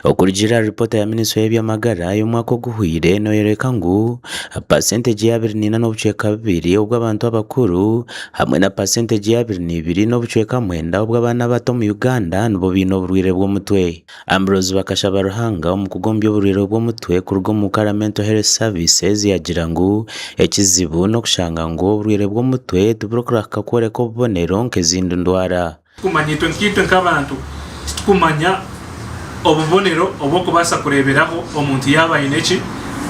Okurugiirira aha ripoota ya minisitule y'eby'amagara y'omwaka oguhweire neyoreka ngu pasentegye ya abiri neina n'obucweka bubiri obw'abantu abakuru hamwe na pasentegye ya abiri neibiri n'obucweka mwenda obw'abaana abato omu Uganda nibo baine oburwaire bw'omutwe. Ambrose Bakashabaruhanga omukugu omu by'oburwaire bw'omutwe kuruga omu Ukara Mental Health Services yagira ngu ekizibu n'okushanga ngu oburwaire bw'omutwe tiburikurahuka kworeka obubonero nk'ezindi ndwara. Kumanya itwe nkaitwe nk'abantu, titukumanya obubonero obw'okubaasa kureeberaho omuntu yaaba aine ki?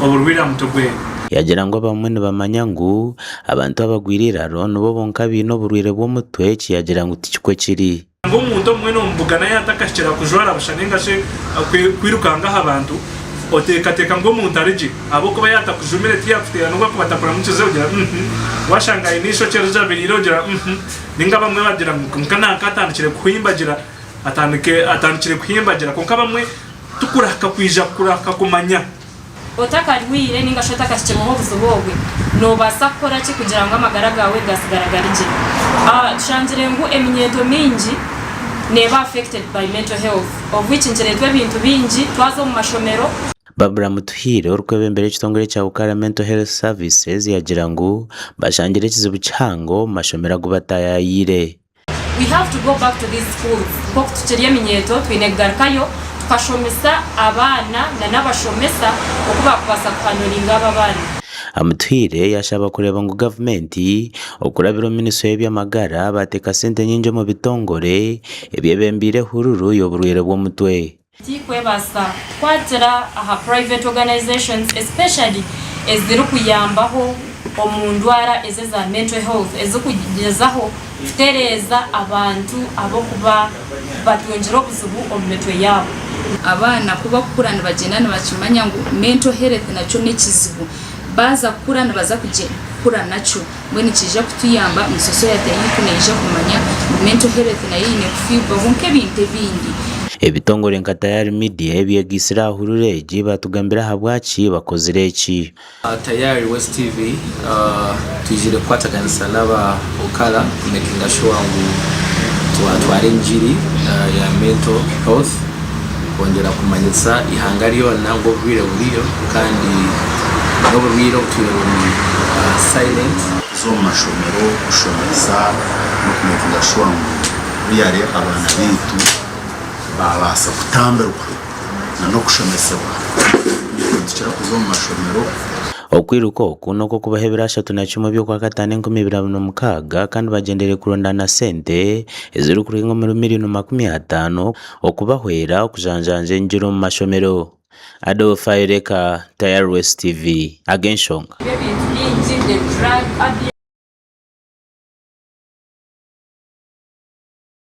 Oburwaire aha mutwe gwe. Yagira ngu abamwe nibamanya ngu abantu abagwire eiraro nibo bonka abaine oburwaire bw'omutwe eki yagira ngu tikikwe kiri. Ngu omuntu omwe n'omubugana yaatakahikira aha kujwara busha nainga shi kwirukanga aha bantu, oteekateeka ngu omuntu ari gye? Ahabw'okuba yaatakujumire, tiyaakuteera n'obu akuba atakuramukize ogira uhmm, waashanga aine eishokye rijabiriire ogira uhmm. Ninga abamwe bagira ngu konka nanka atandikire kuhimbagira atandike atandikire kuhimbagira konka abamwe tukurahika kwija kurahika kumanya. Otakarwaire ninga shi otakahikireho obuzibu obwe, nobaasa kukora ki kugira ngu amagara gaawe gasigara gari gye? Tushangire ngu eminyeeto mingi neeba affected by mental health of which nikireetwa ebintu bingi, twaza omu mashomero, Barbara Mutuhiire orikwebembera ekitongore kya Ukara Mental Health Services yagira ngu bashangire ekizibu kihango omu mashomero agu bataayayaire. We have to go back to these schools nk'oku tukiri eminyeeto twine kugarukayo tukashomesa abaana na n'abashomesa oku baakubaasa kuhanduringa abo abaana. Amutuhiire yashaba kureeba ngu gavumenti okurabira omu minisitule y'eby'amagara baateeka sente nyingi omu bitongore ebyebembeire ehururu y'oburwaire bw'omutwe. Tikwebaasa kukwatira aha private organisations especially eziri kuyambaho omu ndwara ezi eza mental health ezi kugyezaho kutereeza abantu ab'okuba batungire obuzibu omu mitwe yaabo. Abaana ku bakukura nibagyenda nibakimanya ngu mental health nakyo n'ekizibu baaza kukura nibaza kukura nakyo. Mbwenu kiija kutuyamba ngu sosayete yaitu neija kumanya ngu mental health nayo eine kufiibwaho nk'ebintu ebindi. Ebitongore nka Tayari Media ebyegaitsire aha hurura egi baatugambira ahabwaki bakozire eki. Tayari West TV twijeire kukwataganisa n'aba Okara kumekinga shuwa ngu twatwara engiri ya mental health. Nikwongyera kumanyisa ihanga ryona ngu oburwaire buriyo kandi n'oburwaire obutwire buri silent. Kuza omu mashomero kushomesa n'okumekinga shuwa ngu buriya re abaana baitu babaasa kutambirwa na n'okushomesebwa ngu nitukira kuza omu mashomero. Okwiruka oku n'okwokubaha ebiro ashatu na kimwe by'okwakataano enkumi ibiri abiri na mukaaga kandi bagyendeire kurondaana sente ezirikurenga omuri miriyoni makumi ataano. okubahwera okujanjanja engyiri omu mashomero. Adolf Ayoleka, Tireless TV, Ag'enshonga.